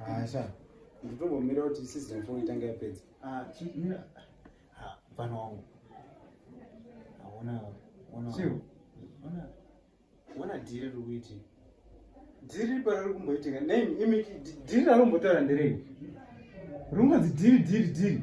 Asha. Nditongomira kuti season 4 itange yapedza. Ah, chimira. Ha, mfana wangu. Haona, ona. Sio. Ona. Ona dhiri riri kuiti. Dhiri para riri kumboitika. Nei, imi dhiri rari kumbotaura nderei? Rungonzi dhiri dhiri dhiri.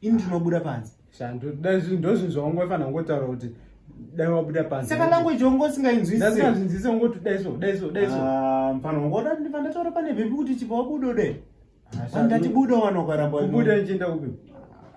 ini ndinobuda panze shandu dai zvinhu ndozvinhu zvaungofanira kungotaura kuti dai wabuda panze saka language wangu usingainzwisisazvinzise ungoti dai so dai so dai so ah, mfana wangu oda ndiva ndataura pane vhimbi kuti chibva wabuda ude ah, andati buda wanokaramba kubuda ndichienda kupi